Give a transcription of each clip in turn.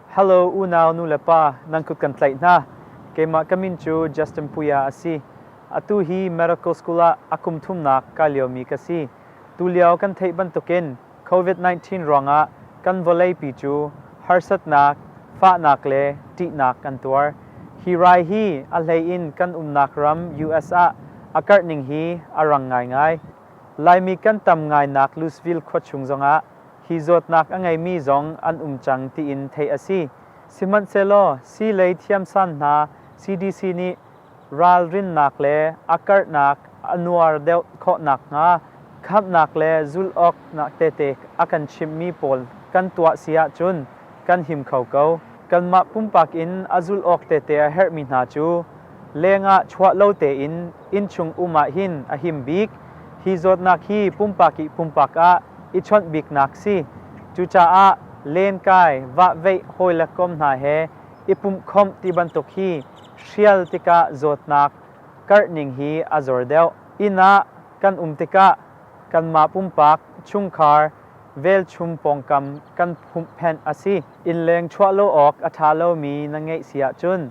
Hello unau nu le pa, nan kut kan tlaih hna. Keimah ka min cu Justin Puya a si. Atu hi Miracle School ah a kum thumnak kai liomi ka si. Tulio kan theih bantukin Covid-19 ruangah kan vawleipi cu harsatnak, fahnak le ṭihnak an tuar. Hi rai hi a hleiin kan umnak ram US ah a karhning hi a rang ngaingai. Laimi kan tam ngainak Louisville khua chung zongah hi zawtnak a ngeimi zong an um cang tiin theih a si. Sihmanhsehlaw sii lei thiamsan hna CDC nih ralrinnak le a karhnak a nuar deuh khawh nakhnga khamhnak le zulh awk tete a kan chimhmi pawl kan tuah si ahcun kan him kho ko. Kanmah pumpak in a zulh awk tete a herhmi hna cu lengah chuah lo tein innchung um ahhin a him bik. Hi zawtnak hi pumpak ih pumpak ah i chawnh biknak si. Cucaah lenkai, vahveih hawi le kom hna he i pumhkhomh ti bantuk hi hrial tikah zawtnak karhning hi a zor deuh. Inn ah kan um tikah kanmah pumpak, chungkhar, velchum pawngkam kan pumhphenh a si. Innleng chuah lo awk a ṭha lomi na ngeih si ahcun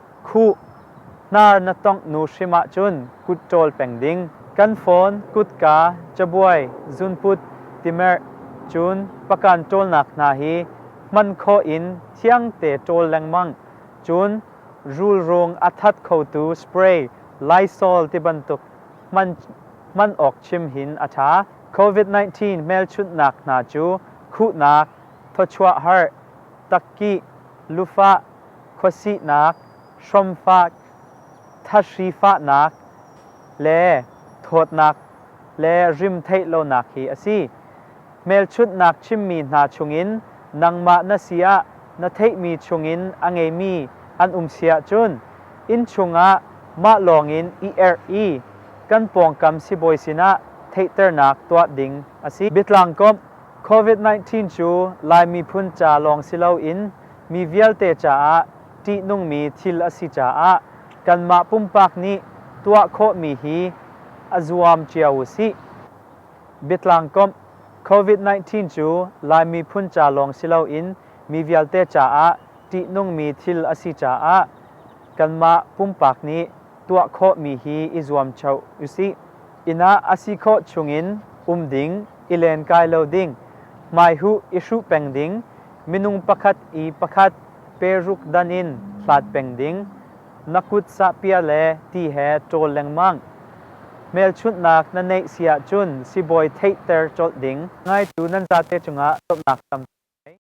Khuh, hnar na tongh nu hrim ahcun kut ṭawl peng ding. Kan phone, kutka, cabuai, zunput, timerh, cun pakan ṭawlnak hna hi hman khawh in thiangte ṭawl lengmang, cun rulrawng a that khotu spray, Lysol tibantuk hman hman awk chim hin a ṭha. Covid-19 hmelchunhnak hna cu khuhnak, thawchuah harh, takkih, lufah, khuasihnak, hrawmfak, thahri fahnak le thawtnak le rimtheih lonak hi a si. Hmelchunhnak chimmi hna chungin nangmah na si ah na theihmi chungin a ngeimi an um si ahcun innchung ah mah lawngin i erh i kan pawngkam sibawi sinah theihternak tuah ding a si. Biatlangkomh, Covid-19 cu Lai miphun ca lawng si loin Mi vialte caah ṭihnungmi thil a si caah kanmah pumpak nih tuah khawhmi hi a zuam cio u sih. Biatlangkomh, Covid-19 cu Lai miphun ca lawng si loin mi vialte caah ṭihnungmi thil a si caah kanmah pumpak nih tuah khawhmi hi i zuam cio u sih. inn ah a si khawh chungin um ding, i len kai lo ding, hmaihuh i hruh peng ding, minung pakhat i pakhat peruk dan in hlat peng ding, na kut sahpiah le ti he ṭawl lengmang. Hmelchunhnak na neih si ahcun sibawi theihter colh ding. Ngaitu nan zate cungah cawmhnak tampi ngei.